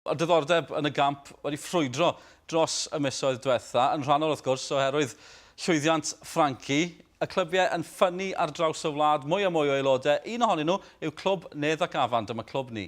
Mae diddordeb yn y gamp wedi ffrwydro dros y misoedd diwetha', yn rhannol wrth gwrs oherwydd llwyddiant Frankie. Y clybiau yn ffynnu ar draws y wlad, mwy a mwy o aelodau, un ohonyn nhw yw clwb Nedd ac Afan, dyma clwb ni.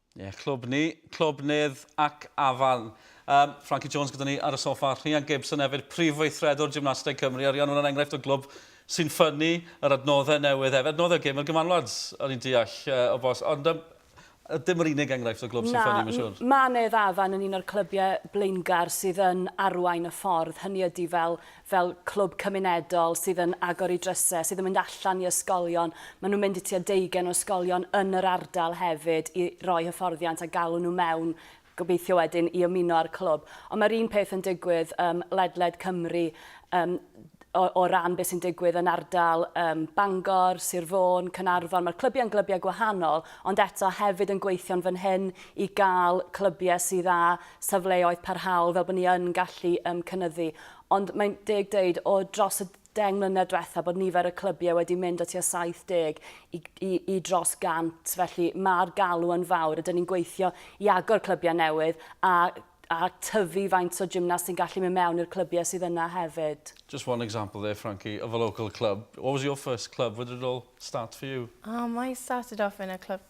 Ie, clwb ni, clwb Nedd ac Afan. Um, Frankie Jones gyda ni ar y soffa, Rhian Gibson hefyd, prif weithredwr gymnasteg Cymru, a Rhian, hwnna'n enghraifft o glwb sy'n ffynnu yr adnoddau newydd hefyd. Adnoddau gym i'r gymanwlad, o'n i'n deall uh, o bos. Ond um, dim yr unig enghraifft o glwb sy'n ffynnu, mae'n siŵr. Mae Nedd Afan yn un o'r clybiau blaengar sydd yn arwain y ffordd. Hynny ydy fel fel clwb cymunedol sydd yn agor i drysau, sydd yn mynd allan i ysgolion, maen nhw'n mynd i tua deugain o ysgolion yn yr ardal hefyd i roi hyfforddiant a galw nhw mewn gobeithio wedyn i ymuno â'r clwb. Ond mae'r un peth yn digwydd ym ledled Cymru yym o, o ran beth sy'n digwydd yn ardal um, Bangor, Sir Fôn, Cynarfon. Mae'r clybiau yn glybiau gwahanol, ond eto hefyd yn gweithio'n fan hyn i gael clybiau sydd â safleoedd parhaol fel bod ni yn gallu um, cynyddu. Ond mae'n deg dweud, o dros y deng mlynedd diwethaf, bod nifer y clybiau wedi mynd o tua 70 i, i, i dros 100, felly mae'r galw yn fawr. Ydyn ni'n gweithio i agor clybiau newydd a, a tyfu faint o gymnast sy'n gallu mynd mewn i'r clybiau sydd yna hefyd. Just one example there, Frankie, of a local club. What was your first club? Where did it all start for you? Oh, mine started off in a club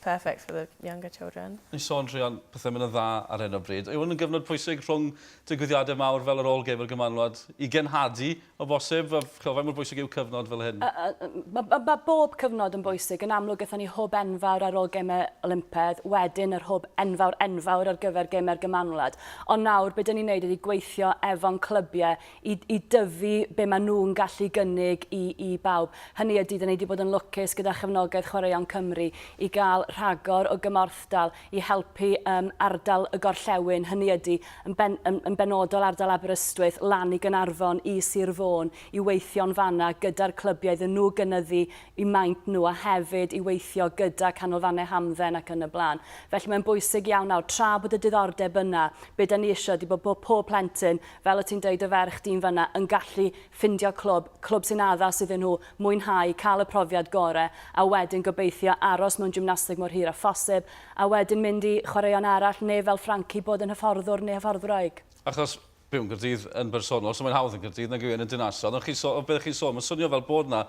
perfect for the younger children. Ni'n sôn druan pethau mynd yn dda ar hyn o bryd. Yw hwn yn gyfnod pwysig rhwng digwyddiadau mawr fel yr ôl gêm a'r gymanwlad i genhadu o bosib? Chymod, faint mor bwysig yw cyfnod fel hyn? Uh, uh, mae ma, ma bob cyfnod yn bwysig. Yn amlwg, gyda ni hwb enfawr ar ôl gemau Olympedd, wedyn yr hwb enfawr enfawr ar gyfer gemau'r gymanwlad. Ond nawr, beth dyn ni'n neud ydy gweithio efo'n clybiau i i dyfu be maen nhw'n gallu gynnig i i bawb. Hynny ydy, dan ni wedi bod yn lwcus gyda chefnogaeth Chwaraeon Cymru i gael rhagor o gymorthdal i helpu yym ardal y gorllewin, hynny ydy, yn ben- yn yn benodol ardal Aberystwyth, lan i Gaernarfon, i Sir Fôn, i weithio'n fan'na gyda'r clybiau iddyn nhw gynyddu eu maint nhw a hefyd i weithio gyda canolfannau hamdden ac yn y blaen. Felly mae'n bwysig iawn nawr, tra bod y diddordeb yna, be dan ni eisiau ydy bod bod pob plentyn fel o ti'n deud dy ferch di'n fynna yn gallu ffindio clwb, clwb sy'n addas iddyn nhw mwynhau, cael y profiad gore a wedyn gobeithio aros mewn gymnasteg mor hir a phosib a wedyn mynd i chwaraeon arall neu fel Frankie bod yn hyfforddwr neu hyfforddwraig. Achos byw yn Gaerdydd yn bersonol so mae'n hawdd yn Gaerdydd nag yw e yn y dinasoedd ond chi'n so- o be chi'n sôn mae'n swnio fel bod 'na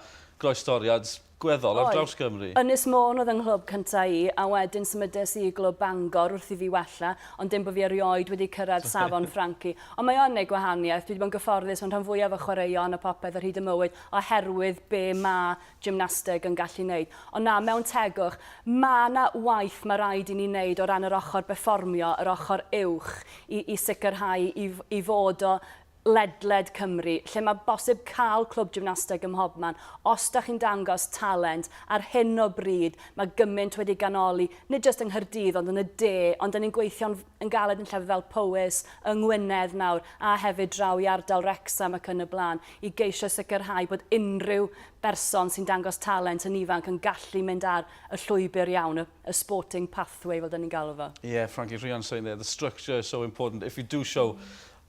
groestoriad gweddol ar draws Cymru. Oedd. Ynys Môn oedd yng nghlwb cyntaf i, a wedyn symudes i i glwb Bangor wrth i fi wella, ond dim bod fi erioed wedi cyrraedd safon Frankie. Ond mae o yn gwneud gwahaniaeth, dwi wedi bod yn gyfforddus mewn rhan fwyaf o chwaraeon a phopeth ar hyd y mywyd oherwydd be mae gymnasteg yn gallu wneud. Ond na, mewn tegwch, mae yna waith mae rhaid i ni wneud o ran yr ochr berfformio, yr ochr uwch, i i sicrhau i i fod o ledled Cymru lle mae bosib cael clwb gymnasteg ym mhobman os da chi'n dangos talent, ar hyn o bryd mae gymaint wedi ganoli, nid jyst yng Nghaerdydd ond yn y de, ond da ni'n gweithio'n yn galed yn llefydd fel Powys, yng Ngwynedd nawr a hefyd draw i ardal Wrecsam ac yn y blaen i geisio sicrhau bod unrhyw berson sy'n dangos talent yn ifanc yn gallu mynd ar y llwybr iawn, y y sporting pathway fel da ni'n galw fo. Yeah, Frankie Rhian's saying there, the structure is so important, if you do show